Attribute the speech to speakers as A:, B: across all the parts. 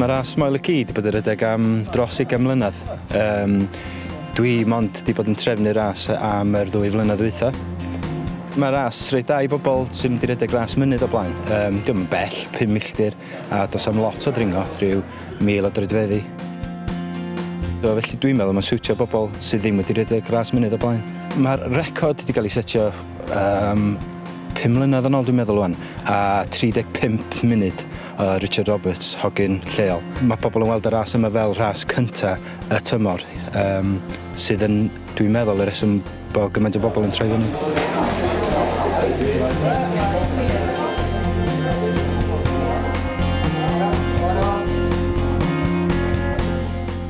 A: Mae ras Moel y Ci wedi bod yn rhedeg am dros ugain mlynedd. Um, dwi mond wedi bod yn trefnu ras am yr ddwy flynedd ddwytha. Mae ras reit da i bobl sy'n mynd i redeg ras mynydd o blaen. Um, Dwi'n bell, 5 milltir, a dos am lot o ddringo, rhyw mil o droedfeddi. So, felly dwi'n meddwl mae'n siwtio bobl sydd ddim wedi redeg ras mynydd o blaen. Mae'r record wedi cael ei setio Yym, pum mlynedd yn ol dwi'n meddwl ŵan, a 35 munud o Richard Roberts, hogyn lleol. Mae pobl yn weld y ras yma fel rhas cynta y tymor, yym, sydd yn, dwi'n meddwl, y reswm bod gymaint o bobl yn troi fyny.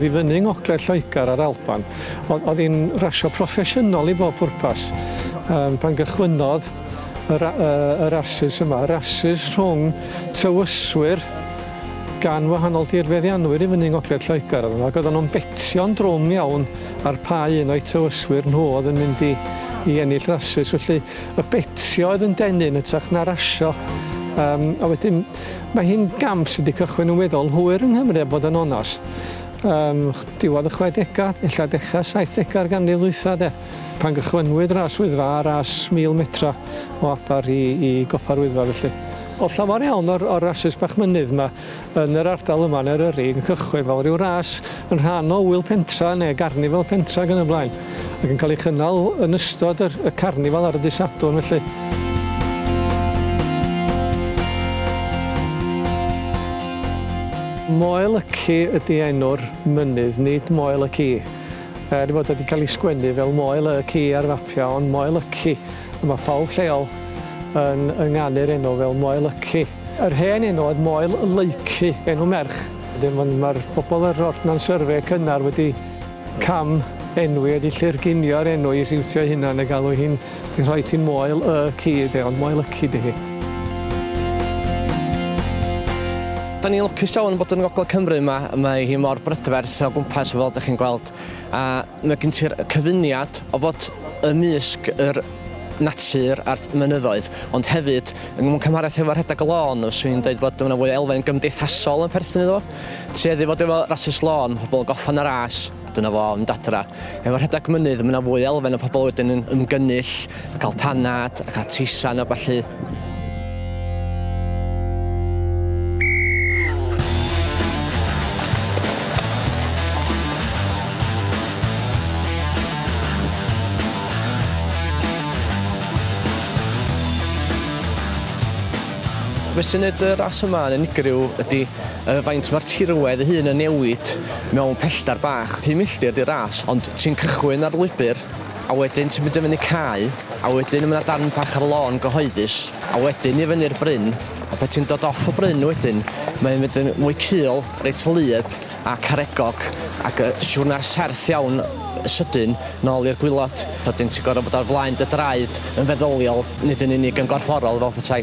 B: Fyny yng ngogledd Lloegr a'r Alban, Oedd, oedd hi'n rasio proffesiynol i bob pwrpas. Um, pan gychwynnodd y, ra, y, y rasus yma, y rasus rhwng tywyswyr gan wahanol dirfeddianwyr i fyny yng Ngogledd Lloegr oedd yma, ac oedden nhw'n betio'n drwm iawn ar pa un o'i tywyswyr nhw oedd yn mynd i, i ennill rasus. Felly y betio oedd yn denu yn ytrach na rasio. Um, a wedyn, mae hi'n gamp sydd wedi cychwyn yn weddol hwyr yng Nghymru, a bod yn onast. Ym diwedd y chwedegau, ella dechrau saithdegau'r ganrif ddwytha de, pan gychwynwyd ras Wyddfa a ras mil metra o Aber i, i gopa'r Wyddfa felly. Oedd llawer iawn o'r, o'r rasys bach mynydd yma yn yr ardal yma yn Eryri yn cychwyn fel rhyw ras yn rhan o ŵyl pentra neu garnifal pentra ac yn y blaen. ac yn cael ei chynnal yn ystod yr, y carnifal ar y dydd Sadwrn felly. Moel y Ci ydy enw'r mynydd, nid Moel y Ci. Er bod wedi cael ei sgwennu fel Moel y Ci ar fapiau, ond Moel y Ci. A mae pawb lleol yn ynganu'r enw fel Moel y Ci. Yr hen enw oedd Moel Leucu, enw merch. Wedyn mae'r pobl yr Ordnance Survey cynnar wedi Cam enwi ydy lly'r ginio'r enw i siwtio ei hunan a galw hi'n ti'n rhoi ti'n moel y ci de ond moel y ci di hi.
C: Da ni'n lwcus iawn bod yn Ngogledd Cymru yma, mae hi mor brydferth o gwmpas fel ydych chi'n gweld a mae gen ti'r cyfuniad o fod ymysg yr natur a'r mynyddoedd ond hefyd yn mewn cymhariaeth efo rhedeg y lôn fyswn i'n dweud bod yna fwy o elfen gymdeithasol yn perthyn iddo fo. Tuedd i fod efo rasys lôn, pobl yn gorffan y ras, a dyna fo, yn mynd adra. Efo rhedeg mynydd, mae yna fwy o elfen o pobl wedyn yn ymgynnull, yn cael panad, a cael teisan a ballu. Beth sy'n neud y ras yma yn unigryw ydi Yy faint mae'r tirwedd ei hun yn newid mewn pellter bach, pum milltir di'r ras ond ti'n cychwyn ar lwybr a wedyn ti'n mynd i fyny cae a wedyn ma' 'na darn bach ar lôn gyhoeddus a wedyn i fyny'r bryn a pan ti'n dod off y bryn wedyn mae'n mynd yn mwy cul reit wlyb a caregog ac yy siwrna serth iawn yy sydyn nôl i'r gwilod wedyn ti'n gor'o' bod ar flaen dy draed yn feddyliol nid yn unig yn gorfforol fel petai.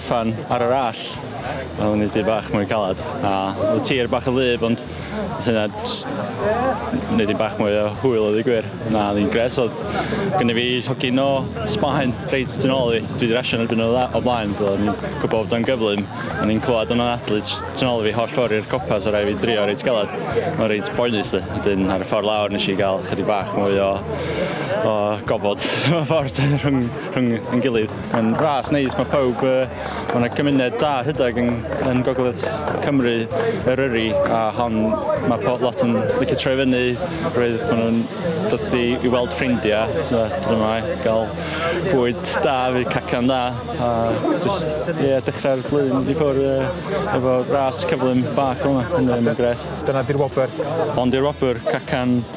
A: Fan ar yr allt, oedd yn neud bach mwy calad, a oedd y tir bach yn wlyb, ond oedd hynna jyst neud bach mwy o hwyl oedd y gwir. Na, oedd hi'n gres, oedd gynnu fi hogyn o Sbaen reit tu nôl i fi, dwi wedi rasio yn erbyn o dda o blaen, so o'n i'n gwybod bod o'n gyflym, o'n i'n clywed o'n anadlu tu nôl i fi holl ffordd i'r copa, so rhaid fi drio reit galad. Mae'n reit boenus di, wedyn ar y ffordd lawr nes i gael chydig bach mwy o, o
D: gofod mewn ffordd rhwng rhwng yn gilydd. Mae'n ras neis, mae pawb, mae yna gymuned da rhedeg yn, yn gogledd Cymru, Eryri, a hon mae pob lot yn licio troi fyny, roedd maen nhw'n dod i, i weld ffrindiau, so, dod yma i gael bwyd da, fi cacan da, a just, ie, yeah, dechrau'r blwyddyn wedi ffwrdd uh, efo ras cyflym bach yma, yn, yn gret. Dyna di'r wobr? Ond di'r wobr, cacan